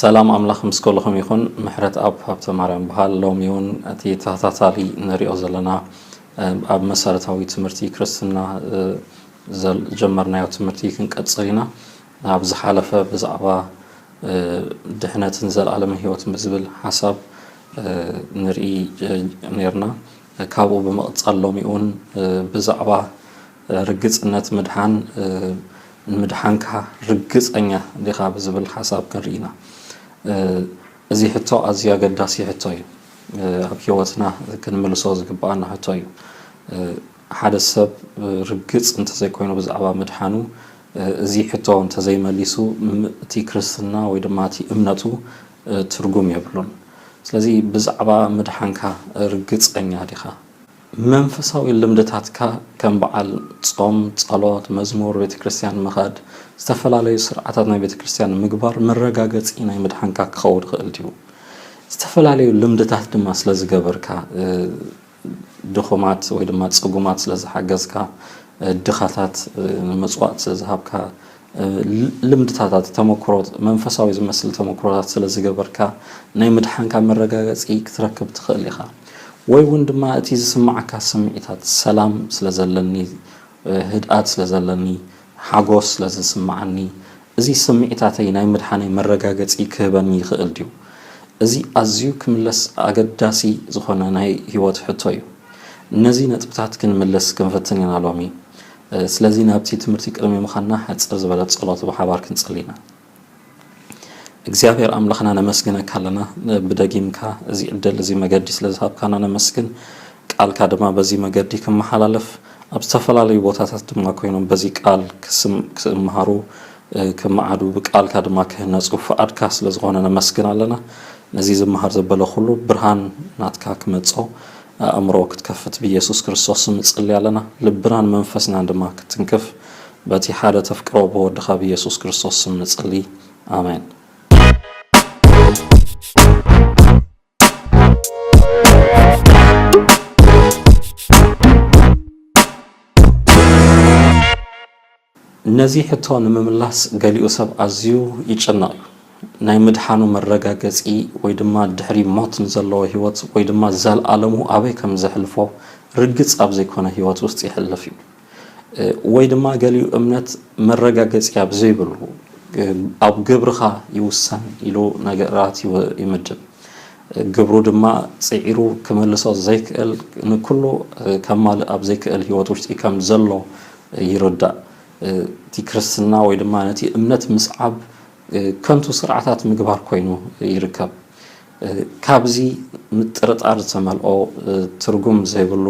ሰላም ኣምላኽ ምስ ከለኹም ይኹን ምሕረት ኣብ ሃብተ ማርያም በሃል ሎሚ እውን እቲ ተኸታታሊ ንሪኦ ዘለና ኣብ መሰረታዊ ትምህርቲ ክርስትና ጀመርናዮ ትምህርቲ ክንቀፅል ኢና ኣብ ዝሓለፈ ብዛዕባ ድሕነትን ዘለኣለም ህይወትን ብዝብል ሓሳብ ንርኢ ነርና ካብኡ ብምቕጻል ሎሚ'ውን ብዛዕባ ርግጽነት ምድሓን፣ ንምድሓንካ ርግጸኛ ዲኻ ብዝብል ሓሳብ ክንርኢ ኢና። እዚ ሕቶ ኣዝዩ ኣገዳሲ ሕቶ እዩ። ኣብ ህይወትና ክንምልሶ ዝግብኣና ሕቶ እዩ። ሓደ ሰብ ርግጽ እንተዘይኮይኑ ብዛዕባ ምድሓኑ፣ እዚ ሕቶ እንተዘይመሊሱ እቲ ክርስትና ወይ ድማ እቲ እምነቱ ትርጉም የብሉን። ስለዚ ብዛዕባ ምድሓንካ ርግጸኛ ዲኻ? መንፈሳዊ ልምድታትካ ከም በዓል ጾም፣ ጸሎት፣ መዝሙር፣ ቤተክርስትያን ምኻድ፣ ዝተፈላለዩ ስርዓታት ናይ ቤተክርስትያን ምግባር መረጋገጺ ናይ ምድሓንካ ክኸውን ይኽእል ድዩ? ዝተፈላለዩ ልምድታት ድማ ስለዝገበርካ፣ ድኹማት ወይ ድማ ጽጉማት ስለ ዝሓገዝካ፣ ድኻታት ምጽዋት ስለ ዝሃብካ፣ ልምድታታት ተመኩሮ መንፈሳዊ ዝመስል ተመኩሮታት ስለ ዝገበርካ ናይ ምድሓንካ መረጋገጺ ክትረክብ ትኽእል ኢኻ። ወይ እውን ድማ እቲ ዝስምዓካ ስምዒታት ሰላም ስለ ዘለኒ፣ ህድኣት ስለ ዘለኒ፣ ሓጎስ ስለ ዝስምዓኒ፣ እዚ ስምዒታተይ ናይ ምድሓነይ መረጋገጺ ክህበኒ ይኽእል ድዩ? እዚ ኣዝዩ ክምለስ ኣገዳሲ ዝኾነ ናይ ህይወት ሕቶ እዩ። ነዚ ነጥብታት ክንምልስ ክንፍትን ኢና ሎሚ። ስለዚ ናብቲ ትምህርቲ ቅድሚ ምኻድና ሓጽር ዝበለት ጸሎት ብሓባር ክንጽሊ ኢና። እግዚኣብሔር ኣምላኽና ነመስግነካ ኣለና ብደጊምካ እዚ ዕድል እዚ መገዲ ስለ ዝሃብካና ነመስግን ቃልካ ድማ በዚ መገዲ ክመሓላለፍ ኣብ ዝተፈላለዩ ቦታታት ድማ ኮይኖም በዚ ቃል ክምሃሩ ክመዓዱ ብቃልካ ድማ ክህነፁ ፍቓድካ ስለ ዝኾነ ነመስግን ኣለና ነዚ ዝመሃር ዘበለ ኩሉ ብርሃን ናትካ ክመጾ ኣእምሮ ክትከፍት ብኢየሱስ ክርስቶስ ስም ንጽሊ ኣለና ልብናን መንፈስናን ድማ ክትንክፍ በቲ ሓደ ተፍቅሮ ብወድኻ ብየሱስ ክርስቶስ ስም ንጽሊ ኣሜን። ነዚ ሕቶ ንምምላስ ገሊኡ ሰብ ኣዝዩ ይጭነቕ እዩ። ናይ ምድሓኑ መረጋገጺ ወይ ድማ ድሕሪ ሞት ንዘለዎ ህይወት ወይ ድማ ዘልኣለሙ ኣበይ ከምዘሕልፎ ርግጽ ኣብ ዘይኮነ ህይወት ውስጥ የሕልፍ እዩ። ወይ ድማ ገሊኡ እምነት መረጋገጺ ኣብ ዘይብሉ ኣብ ግብርኻ ይውሰን ኢሉ ነገራት ይምድብ። ግብሩ ድማ ጽዒሩ ክመልሶ ዘይክእል ንኩሉ ከማልእ ኣብ ዘይክእል ህይወት ውሽጢ ከም ዘሎ ይርዳእ። እቲ ክርስትና ወይ ድማ ነቲ እምነት ምስዓብ ከንቱ ስርዓታት ምግባር ኮይኑ ይርከብ። ካብዚ ምጥርጣር ዝተመልኦ ትርጉም ዘይብሉ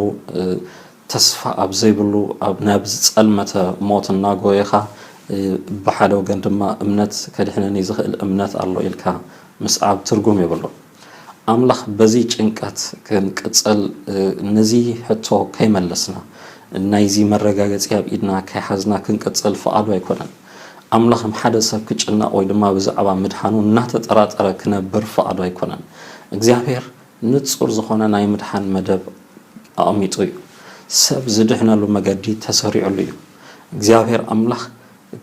ተስፋ ኣብ ዘይብሉ ኣብ ናብ ዝጸልመተ ሞት እናጎየኻ ብሓደ ወገን ድማ እምነት ከድሕነኒ ዝኽእል እምነት ኣሎ ኢልካ ምስዓብ ትርጉም የብሉን። ኣምላኽ በዚ ጭንቀት ክንቅጽል ነዚ ሕቶ ከይመለስና ናይዚ መረጋገጺ ኣብ ኢድና ከይሓዝና ክንቅጽል ፍቓዱ ኣይኮነን። ኣምላኽ ንሓደ ሰብ ክጭነቕ ወይ ድማ ብዛዕባ ምድሓኑ እናተጠራጠረ ክነብር ፍቓዱ ኣይኮነን። እግዚኣብሔር ንጹር ዝኾነ ናይ ምድሓን መደብ ኣቐሚጡ እዩ። ሰብ ዝድሕነሉ መገዲ ተሰሪዑሉ እዩ። እግዚኣብሔር ኣምላኽ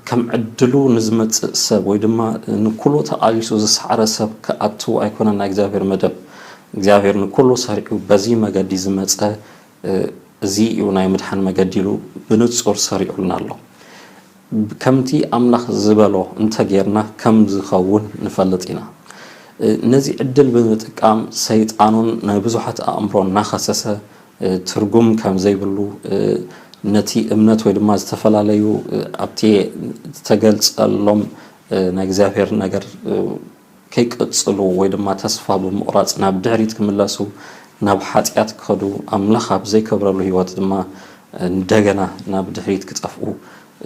ከም ዕድሉ ንዝመጽእ ሰብ ወይ ድማ ንኩሉ ተቓሊሱ ዝሰዓረ ሰብ ክኣትው ኣይኮነን ናይ እግዚኣብሔር መደብ። እግዚኣብሔር ንኩሉ ሰሪዑ በዚ መገዲ ዝመጸ እዚ እዩ ናይ ምድሓን መገዲ ኢሉ ብንጹር ሰሪዑልና ኣሎ። ከምቲ ኣምላኽ ዝበሎ እንተ ጌርና ከም ዚኸውን ንፈልጥ ኢና። ነዚ ዕድል ብምጥቃም ሰይጣንን ናይ ብዙሓት ኣእምሮ እናኸሰሰ ትርጉም ከም ዘይብሉ ነቲ እምነት ወይ ድማ ዝተፈላለዩ ኣብቲ እተገልጸሎም ናይ እግዚኣብሔር ነገር ከይቅጽሉ ወይ ድማ ተስፋ ብምቑራጽ ናብ ድሕሪት ክምለሱ ናብ ሓጥያት ክኸዱ ኣምላኽ ኣብ ዘይከብረሉ ሕይወት ድማ እንደገና ናብ ድሕሪት ክጠፍኡ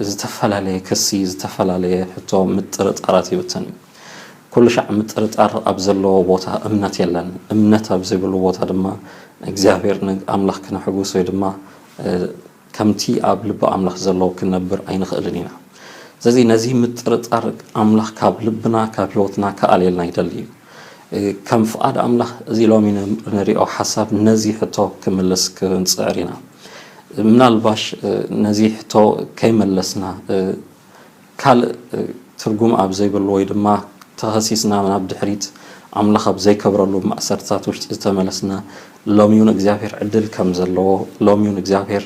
ዝተፈላለየ ክሲ ዝተፈላለየ ሕቶ ምጥርጣራት ይብትን እዩ። ኩሉሻዕ ምጥርጣር ኣብ ዘለዎ ቦታ እምነት የለን እምነት ኣብ ዘይብሉ ቦታ ድማ እግዚኣብሔር ኣምላኽ ክነሕጉስ ወይ ድማ ከምቲ ኣብ ልቢ ኣምላኽ ዘሎ ክንነብር ኣይንኽእልን ኢና። ስለዚ ነዚ ምጥርጣር ኣምላኽ ካብ ልብና ካብ ሕይወትና ክኣልየልና ይደሊ እዩ። ከም ፍቓድ ኣምላኽ እዚ ሎሚ ንርእዮ ሓሳብ ነዚ ሕቶ ክምልስ ክንጽዕር ኢና። ምናልባሽ ነዚ ሕቶ ከይመለስና ካልእ ትርጉም ኣብ ዘይብሉ ወይ ድማ ተኸሲስና ናብ ድሕሪት ኣምላኽ ኣብ ዘይከብረሉ ማእሰርትታት ውሽጢ ዝተመለስና ሎሚውን እግዚኣብሔር ዕድል ከም ዘለዎ ሎሚውን እግዚኣብሔር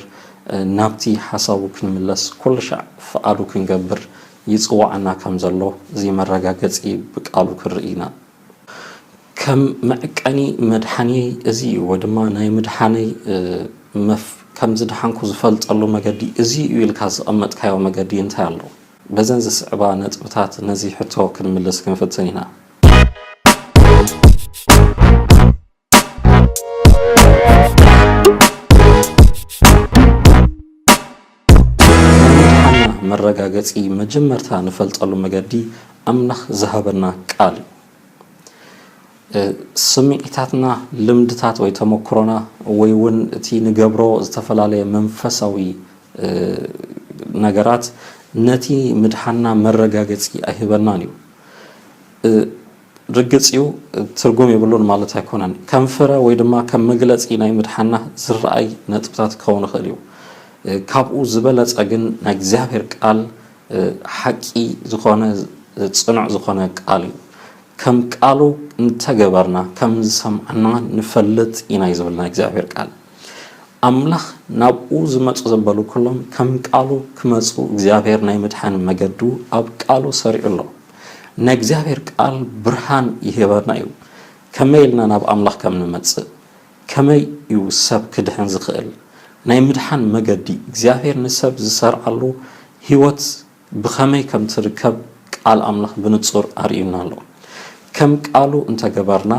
ናብቲ ሓሳቡ ክንምለስ ኩልሻዕ ፍቓዱ ክንገብር ይጽውዓና ከም ዘሎ እዚ መረጋገጺ ብቃሉ ክንርኢ ኢና። ከም መዕቀኒ መድሓኒየይ እዚ እዩ ወይ ድማ ናይ ምድሓነይ መፍ ከም ዝደሓንኩ ዝፈልጠሉ መገዲ እዚ እዩ ኢልካ ዘቐመጥካዮ መገዲ እንታይ ኣሎ? በዘን ዝስዕባ ነጥብታት ነዚ ሕቶ ክንምልስ ክንፍትን ኢና። ምድሓንና መረጋገፂ መጀመርታ ንፈልጠሉ መገዲ ኣምላኽ ዝሃበና ቃል እዩ። ስምዒታትና፣ ልምድታት ወይ ተመክሮና ወይ እውን እቲ ንገብሮ ዝተፈላለየ መንፈሳዊ ነገራት ነቲ ምድሓንና መረጋገፂ ኣይህበናን እዩ። ርግጽ እዩ ትርጉም የብሉን ማለት ኣይኮነን። ከም ፍረ ወይ ድማ ከም መግለጺ ናይ ምድሓና ዝረኣይ ነጥብታት ክኸውን ይኽእል እዩ። ካብኡ ዝበለጸ ግን ናይ እግዚኣብሔር ቃል ሓቂ ዝኾነ ጽኑዕ ዝኾነ ቃል እዩ። ከም ቃሉ እንተገበርና ከም ዝሰምዓና ንፈልጥ ኢና እዩ ዝብል ናይ እግዚኣብሔር ቃል። ኣምላኽ ናብኡ ዝመጹ ዘበሉ ኩሎም ከም ቃሉ ክመጹ እግዚኣብሔር ናይ ምድሓን መገዱ ኣብ ቃሉ ሰሪዑ ኣሎ። ናይ እግዚኣብሔር ቃል ብርሃን ይህበና እዩ ከመይ ኢልና ናብ ኣምላኽ ከም ንመጽእ ከመይ እዩ ሰብ ክድሕን ዝኽእል ናይ ምድሓን መገዲ እግዚኣብሔር ንሰብ ዝሰርዓሉ ሕይወት ብኸመይ ከም ትርከብ ቃል ኣምላኽ ብንጹር ኣርእዩና ኣሎ ከም ቃሉ እንተገበርና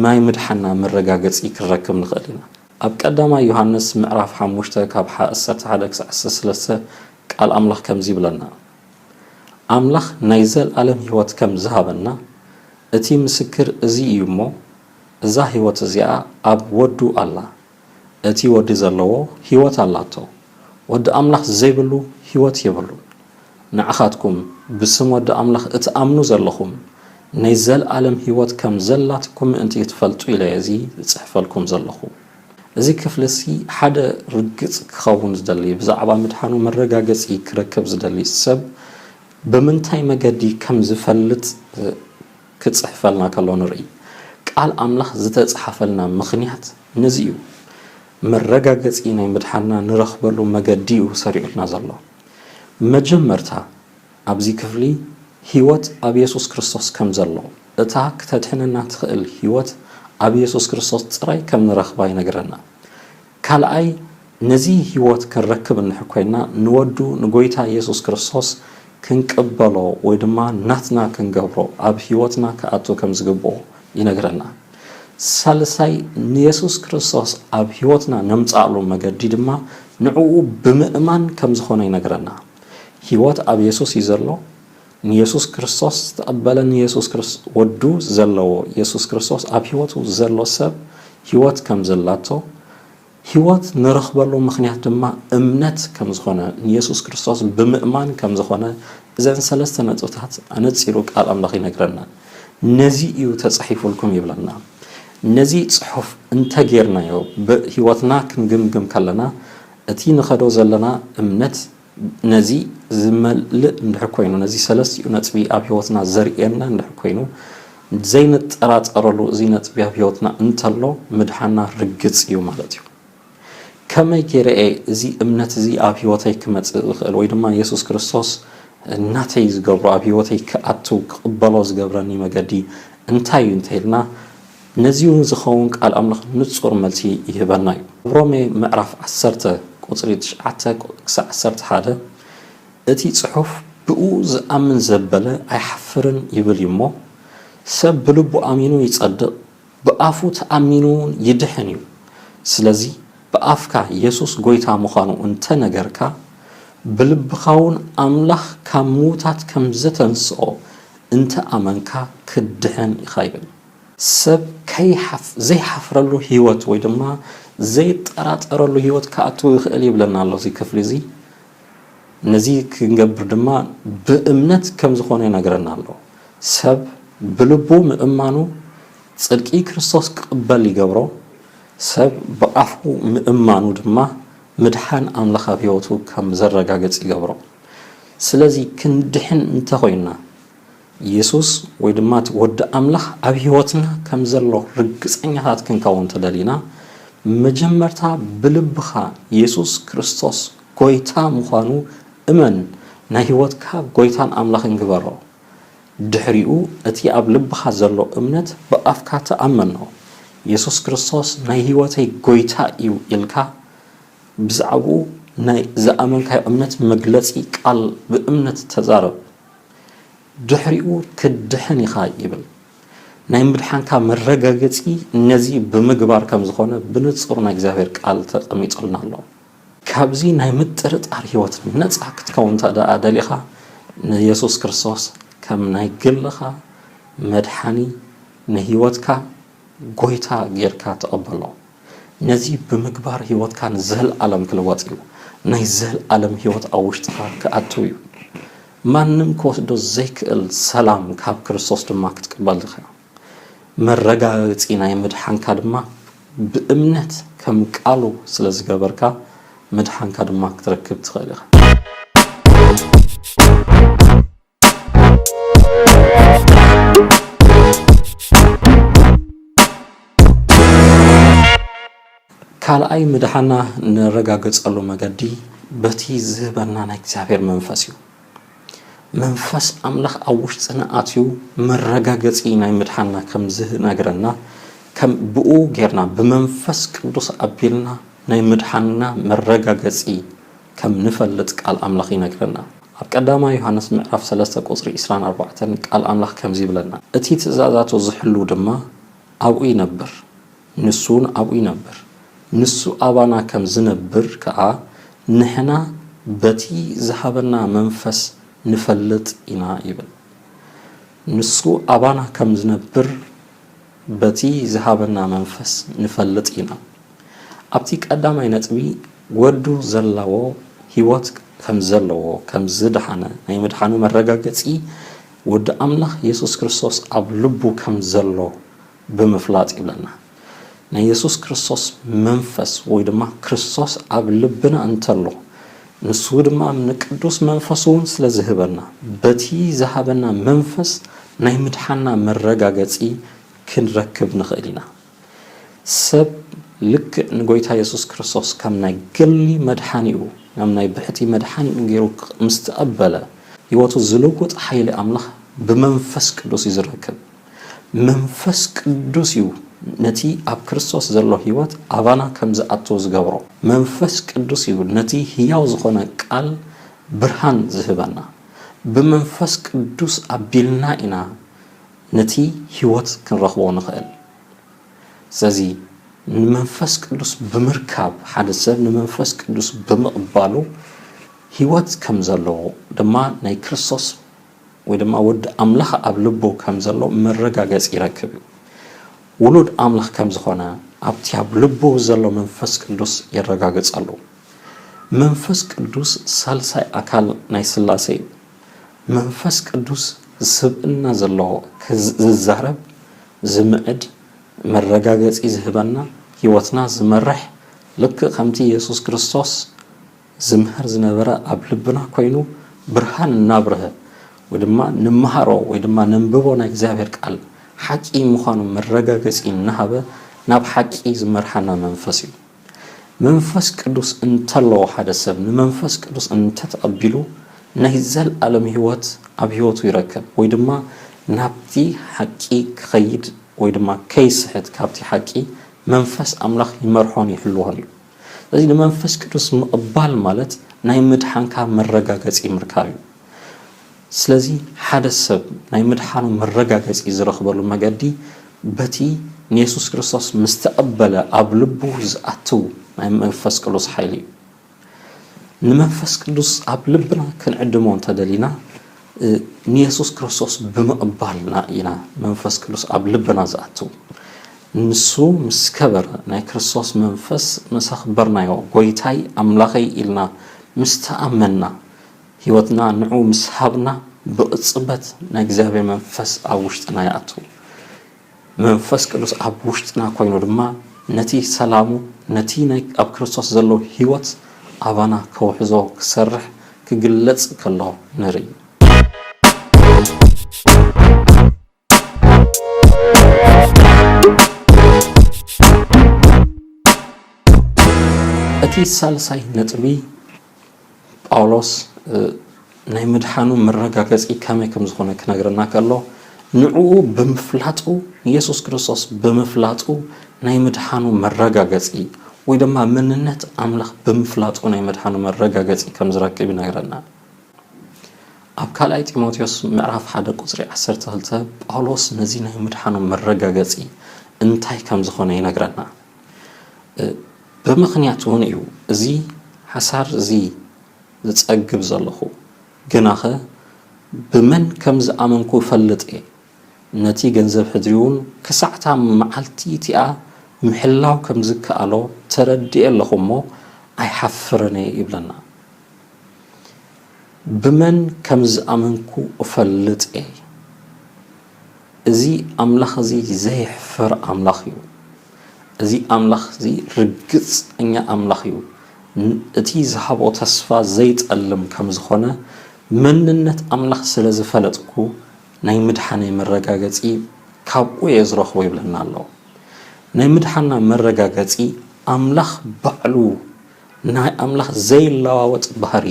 ናይ ምድሓና መረጋገጺ ክንረክብ ንኽእል ኢና ኣብ ቀዳማይ ዮሃንስ ምዕራፍ ሓሙሽተ ካብ ሓ እሰርተ ሓደ ክሳዕ እሰርተ ሰለስተ ቃል ኣምላኽ ከምዚ ይብለና። ኣምላኽ ናይ ዘለኣለም ህይወት ከም ዝሃበና፣ እቲ ምስክር እዚ እዩ እሞ፣ እዛ ህይወት እዚኣ ኣብ ወዱ ኣላ። እቲ ወዲ ዘለዎ ህይወት ኣላቶ። ወዲ ኣምላኽ ዘይብሉ ህይወት የብሉን። ንዓኻትኩም ብስም ወዲ ኣምላኽ እትኣምኑ ዘለኹም፣ ናይ ዘለኣለም ህይወት ከም ዘላትኩም ምእንቲ ክትፈልጡ ኢለየ እዚ ዝጽሕፈልኩም ዘለኹ። እዚ ክፍሊ'ሲ ሓደ ርግጽ ክኸውን ዝደሊ፣ ብዛዕባ ምድሓኑ መረጋገጺ ክረክብ ዝደሊ ሰብ ብምንታይ መገዲ ከም ዝፈልጥ ክጽሕፈልና ከሎ ንርኢ። ቃል ኣምላኽ ዝተጽሓፈልና ምኽንያት ነዚ'ዩ። መረጋገጺ ናይ ምድሓንና ንረኽበሉ መገዲ'ዩ ሰሪዑልና ዘሎ። መጀመርታ ኣብዚ ክፍሊ ህይወት ኣብ የሱስ ክርስቶስ ከም ዘሎ፣ እታ ክተድሕነና ትኽእል ህይወት ኣብ የሱስ ክርስቶስ ጥራይ ከም ንረኽባ ይነግረና። ካልኣይ ነዚ ህይወት ክንረክብ እንድሕር ኮይና ንወዱ ንጎይታ የሱስ ክርስቶስ ክንቅበሎ ወይ ድማ ናትና ክንገብሮ ኣብ ህይወትና ክኣቱ ከም ዝግብኦ ይነግረና። ሳልሳይ ንየሱስ ክርስቶስ ኣብ ህይወትና ነምጽኣሉ መገዲ ድማ ንዕኡ ብምእማን ከም ዝኾነ ይነግረና። ሕይወት ኣብ የሱስ እዩ ዘሎ ንየሱስ ክርስቶስ ዝተቐበለ ንየሱስ ክርስ ወዱ ዘለዎ የሱስ ክርስቶስ ኣብ ሕይወቱ ዘሎ ሰብ ሕይወት ከም ዘላቶ ሕይወት ንረኽበሉ ምኽንያት ድማ እምነት ከም ዝኾነ ንየሱስ ክርስቶስ ብምእማን ከም ዝኾነ እዘን ሰለስተ ነጥብታት ኣነጺሩ ቃል ኣምላኽ ይነግረና ነዚ እዩ ተጻሒፉልኩም ይብለና ነዚ ጽሑፍ እንተጌርናዮ ብሕይወትና ክንግምግም ከለና እቲ ንኸዶ ዘለና እምነት ነዚ ዝመልእ እንድሕር ኮይኑ፣ ነዚ ሰለስቲኡ ነጥቢ ኣብ ሕይወትና ዘርእየና እንድሕር ኮይኑ፣ ዘይንጠራጠረሉ እዚ ነጥቢ ኣብ ሕይወትና እንተሎ ምድሓና ርግጽ እዩ ማለት እዩ። ከመይ ገይረ እየ እዚ እምነት እዚ ኣብ ሕይወተይ ክመጽእ ዝኽእል ወይ ድማ የሱስ ክርስቶስ ናተይ ዝገብሮ ኣብ ሕይወተይ ክኣቱ ክቕበሎ ዝገብረኒ መገዲ እንታይ እዩ እንተይልና ነዚውን ዝኸውን ቃል ኣምላኽ ንጹር መልሲ ይህበና እዩ። ኣብ ሮሜ ምዕራፍ ዓሰርተ ቁጽሪ ትሽዓተ ክሳዕ ዓሰርተ ሓደ እቲ ጽሑፍ ብእኡ ዝኣምን ዘበለ ኣይሓፍርን ይብል እዩ እሞ ሰብ ብልቡ ኣሚኑ ይጸድቕ ብኣፉ ተኣሚኑውን ይድሕን እዩ ስለዚ ብኣፍካ የሱስ ጎይታ ምዃኑ እንተ ነገርካ ብልብኻውን ኣምላኽ ካብ ምዉታት ከም ዘተንስኦ እንተ ኣመንካ ክትድሕን ኢኻ ይብል። ሰብ ከይሓፍ ዘይሓፍረሉ ህይወት ወይ ድማ ዘይጠራጠረሉ ህይወት ክኣቱ ይኽእል ይብለና ኣሎ እዚ ክፍሊ እዚ። ነዚ ክንገብር ድማ ብእምነት ከም ዝኾነ ይነግረና ኣሎ። ሰብ ብልቡ ምእማኑ ጽድቂ ክርስቶስ ክቕበል ይገብሮ፣ ሰብ ብኣፉ ምእማኑ ድማ ምድሓን ኣምላኽ ኣብ ህይወቱ ከም ዘረጋግጽ ይገብሮ። ስለዚ ክንድሕን እንተ ኾይንና፣ የሱስ ወይ ድማ እቲ ወዲ ኣምላኽ ኣብ ህይወትና ከም ዘሎ ርግጸኛታት ክንከውን እንተ ደሊና፣ መጀመርታ ብልብኻ የሱስ ክርስቶስ ጐይታ ምዃኑ እመን፣ ናይ ህይወትካ ጐይታን ኣምላኽን ግበሮ። ድሕሪኡ እቲ ኣብ ልብኻ ዘሎ እምነት ብኣፍካ ተኣመኖ። የሱስ ክርስቶስ ናይ ህይወተይ ጐይታ እዩ ኢልካ ብዛዕባኡ ናይ ዝኣመንካዮ እምነት መግለጺ ቃል ብእምነት ተዛረብ። ድሕሪኡ ትድሕን ኢኻ ይብል። ናይ ምድሓንካ መረጋገጺ ነዚ ብምግባር ከም ዝኾነ ብንጹር ናይ እግዚኣብሔር ቃል ተቀሚጡልና ኣሎ። ካብዚ ናይ ምጥርጣር ሕይወት ነጻ ክትከውን እንተ ደኣ ደሊኻ ንየሱስ ክርስቶስ ከም ናይ ግልኻ መድሓኒ ንሕይወትካ ጎይታ ጌርካ ተቀበሎ። ነዚ ብምግባር ህይወትካ ንዘልኣለም ክልወጥ እዩ። ናይ ዘልኣለም ህይወት ኣብ ውሽጥኻ ክኣትው እዩ። ማንም ክወስዶ ዘይክእል ሰላም ካብ ክርስቶስ ድማ ክትቅበል ኢኻ። መረጋገጺ ናይ ምድሓንካ ድማ ብእምነት ከም ቃሉ ስለ ዝገበርካ ምድሓንካ ድማ ክትረክብ ትኽእል ኢኻ። ካልኣይ ምድሓና ንረጋገጸሉ መገዲ በቲ ዝህበና ናይ እግዚኣብሔር መንፈስ እዩ። መንፈስ ኣምላኽ ኣብ ውሽጥና ኣትዩ መረጋገጺ ናይ ምድሓና ከም ዝነግረና ከም ብኡ ጌርና ብመንፈስ ቅዱስ ኣቢልና ናይ ምድሓና መረጋገጺ ከም ንፈልጥ ቃል ኣምላኽ ይነግረና። ኣብ ቀዳማይ ዮሃንስ ምዕራፍ ሰለስተ ቁጽሪ ዕስራን ኣርባዕተን ቃል ኣምላኽ ከምዚ ይብለና እቲ ትእዛዛቱ ዝሕሉ ድማ ኣብኡ ይነብር ንሱውን ኣብኡ ይነብር ንሱ ኣባና ከም ዝነብር ከኣ ንሕና በቲ ዝሃበና መንፈስ ንፈልጥ ኢና ይብል ንሱ ኣባና ከም ዝነብር በቲ ዝሃበና መንፈስ ንፈልጥ ኢና። ኣብቲ ቀዳማይ ነጥቢ ወዱ ዘላዎ ሕይወት ከም ዘለዎ ከም ዝደሓነ ናይ ምድሓኑ መረጋገጺ ወዲ ኣምላኽ የሱስ ክርስቶስ ኣብ ልቡ ከም ዘሎ ብምፍላጥ ይብለና። ናይ የሱስ ክርስቶስ መንፈስ ወይ ድማ ክርስቶስ ኣብ ልብና እንተሎ ንሱ ድማ ንቅዱስ መንፈሱ'ውን ስለ ዝህበና፣ በቲ ዝሃበና መንፈስ ናይ ምድሓንና መረጋገጺ ክንረክብ ንኽእል ኢና። ሰብ ልክዕ ንጎይታ የሱስ ክርስቶስ ከም ናይ ገሊ መድሓኒኡ፣ ከም ናይ ብሕቲ መድሓኒኡ ገይሩ ምስ ተቐበለ፣ ህይወቱ ዝልውጥ ሓይሊ ኣምላኽ ብመንፈስ ቅዱስ እዩ ዝረክብ። መንፈስ ቅዱስ እዩ ነቲ ኣብ ክርስቶስ ዘሎ ህይወት ኣባና ከም ዝኣቱ ዝገብሮ። መንፈስ ቅዱስ እዩ ነቲ ህያው ዝኾነ ቃል ብርሃን ዝህበና። ብመንፈስ ቅዱስ ኣቢልና ኢና ነቲ ህይወት ክንረኽቦ ንኽእል። ስለዚ ንመንፈስ ቅዱስ ብምርካብ ሓደ ሰብ ንመንፈስ ቅዱስ ብምቕባሉ ህይወት ከም ዘለዎ ድማ ናይ ክርስቶስ ወይ ድማ ወዲ ኣምላኽ ኣብ ልቡ ከም ዘሎ መረጋገጺ ይረክብ እዩ። ውሉድ ኣምላኽ ከም ዝኾነ ኣብቲ ኣብ ልቡ ዘሎ መንፈስ ቅዱስ የረጋግጸሉ። መንፈስ ቅዱስ ሳልሳይ ኣካል ናይ ስላሴ እዩ። መንፈስ ቅዱስ ስብእና ዘለዎ ዝዛረብ ዝምዕድ መረጋገጺ ዝህበና ህይወትና ዝመርሕ ልክእ ከምቲ የሱስ ክርስቶስ ዝምሀር ዝነበረ ኣብ ልብና ኮይኑ ብርሃን እናብርሀ ወይ ድማ ንመሃሮ ወይ ድማ ነንብቦ ናይ እግዚኣብሔር ቃል ሓቂ ምዃኑ መረጋገጺ እናሃበ ናብ ሓቂ ዝመርሓና መንፈስ እዩ። መንፈስ ቅዱስ እንተለዎ ሓደ ሰብ ንመንፈስ ቅዱስ እንተተቐቢሉ ናይ ዘለዓለም ሕይወት ኣብ ሕይወቱ ይረከብ ወይ ድማ ናብቲ ሓቂ ክኸይድ ወይ ድማ ከይስሕት ካብቲ ሓቂ መንፈስ ኣምላኽ ይመርሖን ይሕልዎን እዩ። ስለዚ ንመንፈስ ቅዱስ ምቕባል ማለት ናይ ምድሓንካ መረጋገጺ ምርካብ እዩ። ስለዚ ሓደ ሰብ ናይ ምድሓኑ መረጋገጺ ዝረኽበሉ መገዲ በቲ ንየሱስ ክርስቶስ ምስ ተቐበለ ኣብ ልቡ ዝኣትው ናይ መንፈስ ቅዱስ ሓይሊ እዩ። ንመንፈስ ቅዱስ ኣብ ልብና ክንዕድሞ እንተደሊና ንየሱስ ክርስቶስ ብምቕባልና ኢና መንፈስ ቅዱስ ኣብ ልብና ዝኣቱ። ንሱ ምስ ከበረ፣ ናይ ክርስቶስ መንፈስ ምስ ኣኽበርናዮ፣ ጐይታይ ኣምላኸይ ኢልና ምስ ተኣመንና፣ ህይወትና ንዕኡ ምስ ሃብና፣ ብቕጽበት ናይ እግዚኣብሔር መንፈስ ኣብ ውሽጥና ይኣቱ። መንፈስ ቅዱስ ኣብ ውሽጥና ኮይኑ ድማ ነቲ ሰላሙ ነቲ ናይ ኣብ ክርስቶስ ዘሎ ሕይወት ኣባና ከውሕዞ ክሰርሕ ክግለጽ ከሎ ንርኢ። እቲ ሳልሳይ ነጥቢ፣ ጳውሎስ ናይ ምድሓኑ መረጋገጺ ከመይ ከም ዝኾነ ክነግረና ከሎ ንዕኡ ብምፍላጡ ንየሱስ ክርስቶስ ብምፍላጡ ናይ ምድሓኑ መረጋገጺ ወይ ድማ መንነት ኣምላኽ ብምፍላጡ ናይ ምድሓኑ መረጋገጺ ከም ዝረክብ ይነግረና። ኣብ ካልኣይ ጢሞቴዎስ ምዕራፍ ሓደ ቁፅሪ 12 ጳውሎስ ነዚ ናይ ምድሓኑ መረጋገፂ እንታይ ከም ዝኾነ ይነግረና። ብምኽንያት እውን እዩ እዚ ሓሳር እዚ ዝጸግብ ዘለኹ። ግናኸ ብመን ከም ዝኣመንኩ እፈልጥ እየ። ነቲ ገንዘብ ሕድሪ'ውን ክሳዕ'ታ መዓልቲ እቲኣ ምሕላው ከም ዝከኣሎ ተረዲኤ ኣለኹ እሞ ኣይሓፍርን እየ ይብለና። ብመን ከም ዝኣመንኩ እፈልጥ እየ። እዚ ኣምላኽ እዚ ዘየሕፍር ኣምላኽ እዩ። እዚ ኣምላኽ እዚ ርግጸኛ ኣምላኽ እዩ፣ እቲ ዝሃቦ ተስፋ ዘይጠልም ከም ዝዀነ መንነት ኣምላኽ ስለ ዝፈለጥኩ ናይ ምድሓነይ መረጋገጺ ካብኡ እየ ዝረኽቦ ይብለና ኣሎ። ናይ ምድሓንና መረጋገጺ ኣምላኽ ባዕሉ ናይ ኣምላኽ ዘይለዋወጥ ባህሪ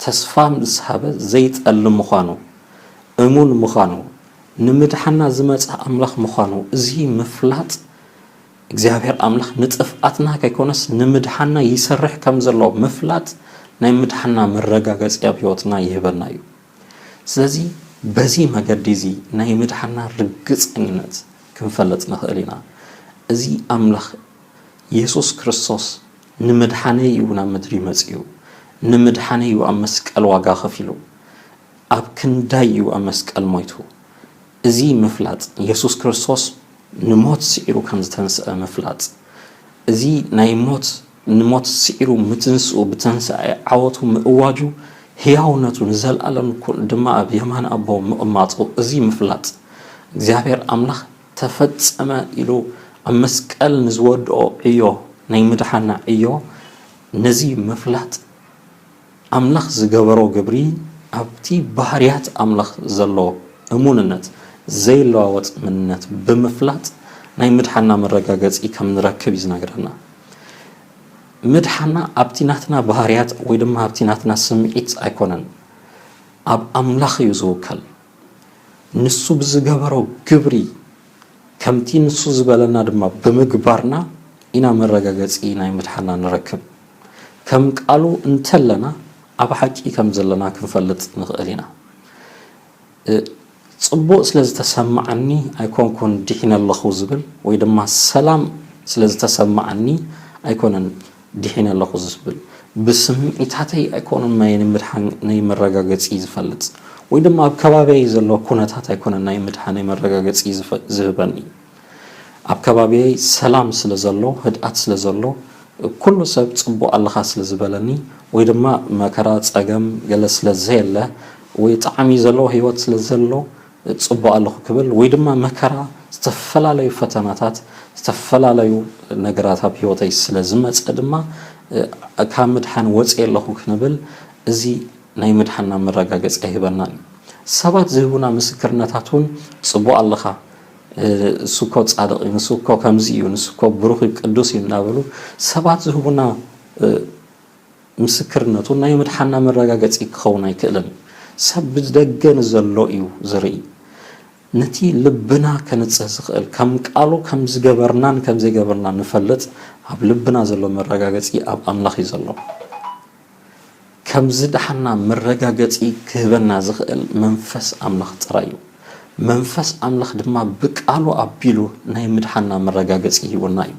ተስፋ ምስ ሃበ ዘይጠልም ምዃኑ እሙን ምዃኑ ንምድሓና ዝመጸ ኣምላኽ ምዃኑ እዚ ምፍላጥ እግዚኣብሔር ኣምላኽ ንጥፍኣትና ከይኮነስ ንምድሓና ይሰርሕ ከም ዘሎ ምፍላጥ ናይ ምድሓና መረጋገጺ ኣብ ሕይወትና ይህበና እዩ ስለዚ በዚ መገዲ እዚ ናይ ምድሓና ርግጸኝነት ክንፈልጥ ንኽእል ኢና እዚ ኣምላኽ የሱስ ክርስቶስ ንምድሓነይ እዩ ናብ ምድሪ መጺኡ ንምድሓነይ እዩ ኣብ መስቀል ዋጋ ከፊሉ ኣብ ክንዳይ እዩ ኣብ መስቀል ሞይቱ። እዚ ምፍላጥ፣ የሱስ ክርስቶስ ንሞት ስዒሩ ከም ዝተንስኣ ምፍላጥ፣ እዚ ናይ ሞት ንሞት ስዒሩ ምትንስኡ፣ ብትንሳኤ ዓወቱ ምእዋጁ፣ ህያውነቱ ንዘልኣለም ድማ ኣብ የማን ኣቦ ምቕማጡ እዚ ምፍላጥ፣ እግዚኣብሔር ኣምላኽ ተፈጸመ ኢሉ ኣብ መስቀል ንዝወድኦ ዕዮ ናይ ምድሓንና ዕዮ ነዚ ምፍላጥ፣ ኣምላኽ ዝገበሮ ግብሪ ኣብቲ ባህርያት ኣምላኽ ዘሎ እሙንነት፣ ዘይለዋወጥ መንነት፣ ብምፍላጥ ናይ ምድሓንና መረጋገጺ ከም ንረክብ እዩ ዝነግረና። ምድሓንና ኣብቲ ናትና ባህርያት ወይ ድማ ኣብቲ ናትና ስምዒት ኣይኮነን። ኣብ ኣምላኽ እዩ ዝውከል። ንሱ ብዝገበሮ ግብሪ ከምቲ ንሱ ዝበለና ድማ ብምግባርና ኢና መረጋገጺ ናይ ምድሓንና ንረክብ። ከም ቃሉ እንተለና ኣብ ሓቂ ከም ዘለና ክንፈልጥ ንኽእል ኢና። ጽቡቕ ስለ ዝተሰምዓኒ ኣይኮንኩን ዲሒነ ኣለኹ ዝብል ወይ ድማ ሰላም ስለ ዝተሰምዓኒ ኣይኮነን ዲሒነ ኣለኹ ዝብል። ብስምዒታተይ ኣይኮኑን ናይ ምድሓን ናይ መረጋገጺ ዝፈልጥ ወይ ድማ ኣብ ከባቢየይ ዘሎ ኩነታት ኣይኮነን ናይ ምድሓነይ መረጋገጺ ዝህበኒ። ኣብ ከባቢየይ ሰላም ስለ ዘሎ ህድኣት ስለ ዘሎ ኩሉ ሰብ ጽቡቅ ኣለኻ ስለ ዝበለኒ ወይ ድማ መከራ ጸገም ገለ ስለ ዘየለ ወይ ጣዕሚ ዘለዎ ሂወት ስለ ዘሎ ጽቡቅ ኣለኹ ክብል ወይ ድማ መከራ ዝተፈላለዩ ፈተናታት ዝተፈላለዩ ነገራት ኣብ ሂወተይ ስለ ዝመጸ ድማ ካብ ምድሓን ወጽየ ኣለኹ ክንብል እዚ ናይ ምድሓንና መረጋገጺ ኣይህበናን እዩ። ሰባት ዝህቡና ምስክርነታት ውን ጽቡቅ ኣለኻ፣ ንሱኮ ጻድቕ እዩ፣ ንሱኮ ከምዚ እዩ፣ ንሱኮ ብሩኽ እዩ፣ ቅዱስ እዩ እናበሉ ሰባት ዝህቡና ምስክርነት እውን ናይ ምድሓንና መረጋገጺ ክኸውን ኣይክእልን እዩ። ሰብ ብደገ ንዘሎ እዩ ዝርኢ። ነቲ ልብና ከንጽህ ዝኽእል ከም ቃሉ ከም ዝገበርናን ከም ዘይገበርናን ንፈልጥ ኣብ ልብና ዘሎ መረጋገጺ ኣብ ኣምላኽ እዩ ዘሎ። ከም ዝደሓንና መረጋገጺ ክህበና ዝኽእል መንፈስ ኣምላኽ ጥራይ እዩ። መንፈስ ኣምላኽ ድማ ብቃሉ ኣቢሉ ናይ ምድሓንና መረጋገጺ ሂቡና እዩ።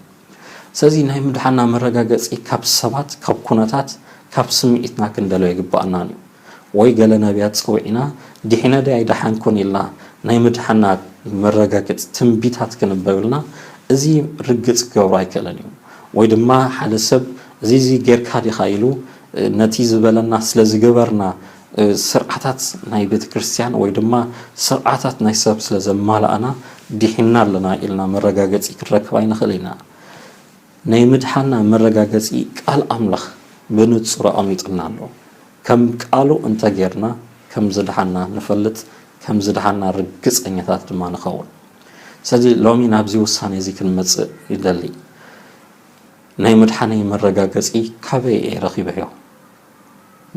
ስለዚ ናይ ምድሓንና መረጋገጺ ካብ ሰባት፣ ካብ ኩነታት፣ ካብ ስምዒትና ክንደልዮ ኣይግብኣናን እዩ። ወይ ገለ ነብያት ጸዊዕና ዲሒነ ድየ ኣይደሓንኩን ኢልና ናይ ምድሓንና መረጋገጺ ትንቢታት ክንበብልና እዚ ርግጽ ክገብሮ ኣይክእልን እዩ። ወይ ድማ ሓደ ሰብ እዚ እዚ ጌርካ ዲኻ ኢሉ ነቲ ዝበለና ስለ ዝገበርና ስርዓታት ናይ ቤተ ክርስትያን ወይ ድማ ስርዓታት ናይ ሰብ ስለ ዘማላእና ዲሒንና ኣለና ኢልና መረጋገጺ ክንረክብ ኣይንኽእል ኢና። ናይ ምድሓንና መረጋገጺ ቃል ኣምላኽ ብንጹር ኣቐሚጡልና ኣሎ። ከም ቃሉ እንተ ጌርና ከም ዝደሓንና ንፈልጥ ከም ዝደሓንና ርግጸኛታት ድማ ንኸውን። ስለዚ ሎሚ ናብዚ ውሳኔ እዚ ክንመጽእ ይደሊ። ናይ ምድሓነይ መረጋገጺ ካበይ እየ ረኺበዮ?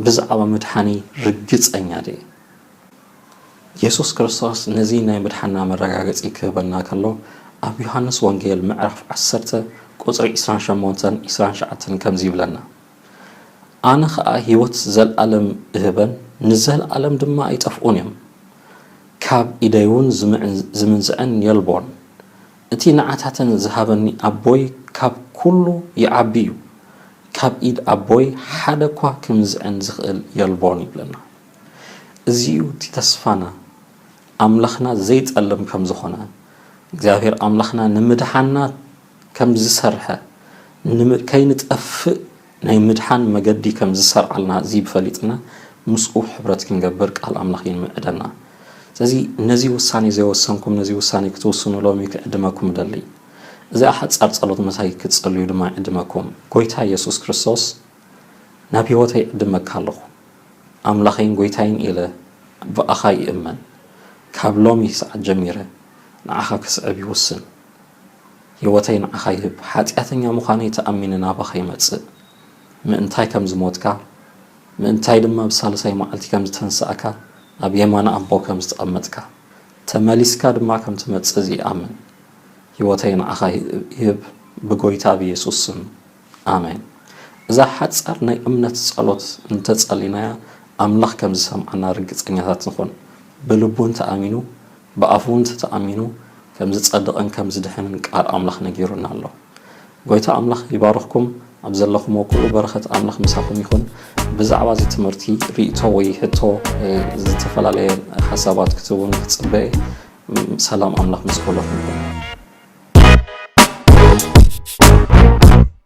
ብዛዕባ ምድሓነይ ርግጸኛ ድየ? የሱስ ክርስቶስ ነዚ ናይ ምድሓንና መረጋገጺ ክህበና ከሎ ኣብ ዮሃንስ ወንጌል ምዕራፍ ዓሰርተ ቁጽሪ ዕስራን ሸሞንተን ዕስራን ትሽዓተን ከምዚ ይብለና ኣነ ኸኣ ህይወት ዘለኣለም እህበን ንዘለኣለም ድማ ኣይጠፍኡን እዮም ካብ ኢደይውን ዝምንዝዐን የልቦን እቲ ንዓታተን ዝሃበኒ ኣቦይ ካብ ኩሉ ይዓቢ እዩ፣ ካብ ኢድ ኣቦይ ሓደ እኳ ክምዝዕን ዝኽእል የልቦን ይብለና። እዚ እዩ እቲ ተስፋና፣ ኣምላኽና ዘይጸልም ከም ዝኾነ፣ እግዚኣብሄር ኣምላኽና ንምድሓና ከም ዝሰርሐ፣ ከይንጠፍእ ናይ ምድሓን መገዲ ከም ዝሰርዓልና እዚ ፈሊጥና ምስኡ ሕብረት ክንገብር ቃል ኣምላኽ ይምዕደና። ስለዚ ነዚ ውሳኔ ዘይወሰንኩም ነዚ ውሳኔ ክትውስኑ ሎሚ ክዕድመኩም እደሊ። እዚኣ ሓጻር ጸሎት ምሳይ ክትጽልዩ ድማ ይዕድመኩም። ጎይታ የሱስ ክርስቶስ ናብ ሕይወተይ ይዕድመካ ኣለኹ። ኣምላኸይን ጎይታይን ኢለ ብኣኻ ይእመን። ካብ ሎሚ ሰዓት ጀሚረ ንዓኻ ክስዕብ ይውስን። ህይወተይ ንዓኻ ይህብ ሓጢኣተኛ ምዃነይ ተኣሚነ ናባኻ ይመጽእ ምእንታይ ከም ዝሞትካ ምእንታይ ድማ ብሳልሳይ መዓልቲ ከም ዝተንሳእካ ኣብ የማን ኣቦ ከም ዝተቐመጥካ ተመሊስካ ድማ ከም ትመጽእ እዚ ይኣምን ህይወተይ ንዓኻ ይህብ ብጎይታ ብየሱስ ስም ኣሜን እዛ ሓጻር ናይ እምነት ጸሎት እንተጸሊናያ ኣምላኽ ከም ዝሰምዓና ርግጸኛታት ንኹን ብልቡን ተኣሚኑ ብኣፉ እንተ ተኣሚኑ ከም ዝጸድቕን ከም ዝድሕንን ቃል ኣምላኽ ነጊሩና ኣሎ። ጎይታ ኣምላኽ ይባርኽኩም ኣብ ዘለኹሞ ኩሉ በረኸት ኣምላኽ ምሳኹም ይኹን። ብዛዕባ እዚ ትምህርቲ ሪኢቶ ወይ ሕቶ ዝተፈላለየ ሓሳባት ክትቡን ክጽበ ሰላም ኣምላኽ ምስ ኩለኹም ይኹን።